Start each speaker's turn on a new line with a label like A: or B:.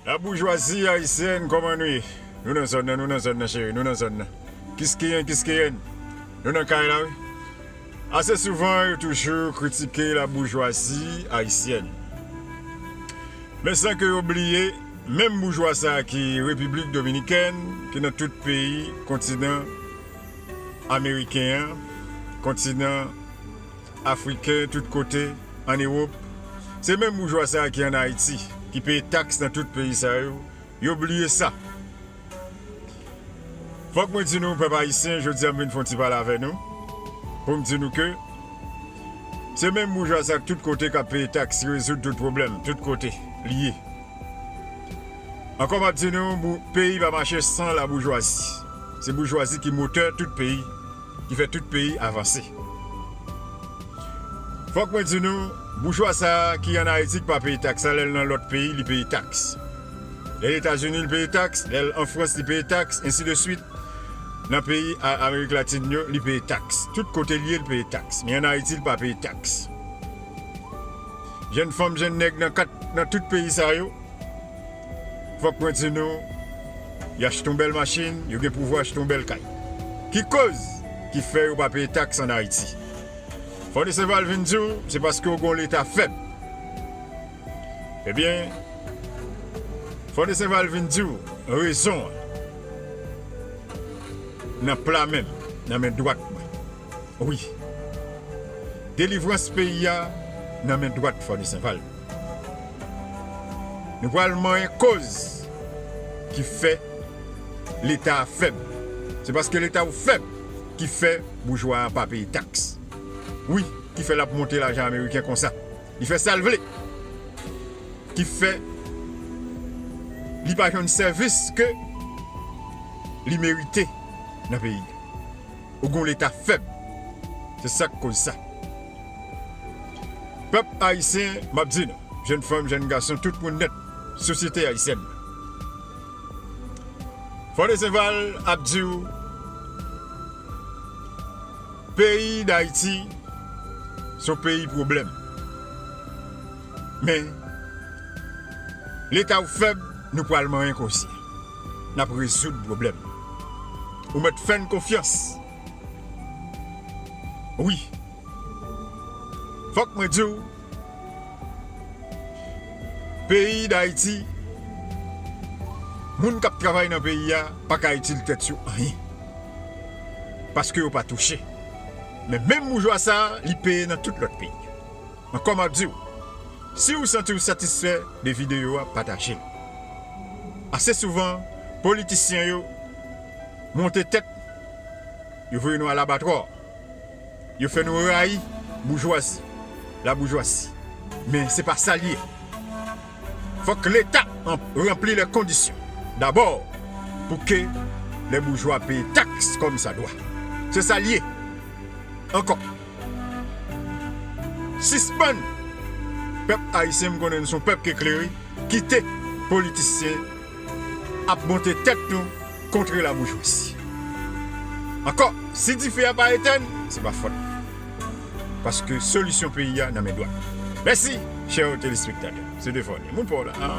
A: La boujwazi ayisyèn kòman nou ye? Nou nan zòn nan, nou nan zòn nan cheri, nou nan zòn nan. Kiskeyen, kiskeyenn, nou nan kay la wi. Ase souvan yo toujou kritike la boujwazi ayisyèn. Men san ke yo bliye menm boujwa sa ki Repiblik Dominikèn, ki nan tout peyi kontinan ameriken an, kontinan. Afriken tout kote, an Ewop. Se menm boujwa sa ki an Ayiti, ki peye taks nan tout peyi sa yo, yo bliye sa. Fòk mwen di nou, pèp Ayisyen, jodi a m vin fè yon ti pale avè nou, pou m di nou ke, se menm boujwa sa tout kote k ap peye taks ki rezoud tout pwoblèm, tout kote, li ye. Ankò m ap di nou, peyi pa mache san laboujwazi. Se boujwazi ki motè tout peyi. ki fè tout peyi avanse. Fòk mwen di nou, boujwa sa a ki an Ayiti ki pa peye taks la, lè l nan lòt peyi li peye taks. Lè l Etazini li peye taks, lè l an Frans li peye taks, ensi de swit. Nan peyi Amerik Latin yo li peye taks. Tout kote l ye li peye taks. Men an Ayiti li pa peye taks. Jèn fanm, jèn nèg nan kat nan tout peyi sa yo. Fòk mwen di nou, y achte yon bèl machin, yo gen pouvwa achte yon bèl kay. Ki koz ki fè yo pa peye taks an Ayiti? Fònisè va vin di w se paske yo gen yon Leta fèb. Ebyen, fònisè va vin di w rezon an nan pla menm, nan men dwat mwen. Wi, delivrans peyi a nan men dwat fònisè va. Nou pral manyen koz ki fè leta a fèb. Se paske leta ou fèb ki fè boujwa a pa peye taks. Wi, ki fè l ap monte lajan ameriken konsa. Li fè sa l vle. Ki fè li pa jwenn sèvis ke li merite nan peyi. ou gon leta fèb se sak koz sa pèp ayisyen map di nou jèn fanm jèn gason tout moun nèt sosyete ayisyèn nan fòdeseval ap diw peyi dayiti son peyi pwoblèm men leta ou fèb nou pwal manyen konsyen. nap rezoud problèm ou mèt fèn konfyans wi fòk mwen diw peyi dayiti moun kap travay nan peyi a paka itil tèt yo anyen paske yo pa touche men menm boujwa sa li peye nan tout lòt peyi. Ankò map diw siw santiw satisfè de video a patajel. Ase souvan politisyen yo monte tèt yo voye nou a labatwò yo fè nou rayi boujwazi la boujwasi men se pa sal ye fòk leta ranpli lè kondisyon dabò pou ke lè boujwa peye taks kòm sa dwa se sal ye ankò. Sispann! Pèp Ayisyen m konnen nou son pèp k eklere, kite politisyen ap monte tèt nou kontre la boujwazi. Ankò, si dife a pa etèn, se pa fòt mwen. Paske solisyon peyi a nan men dwat mwen. Mèsi chè telespektatè. Se Deforny, moun pa w la.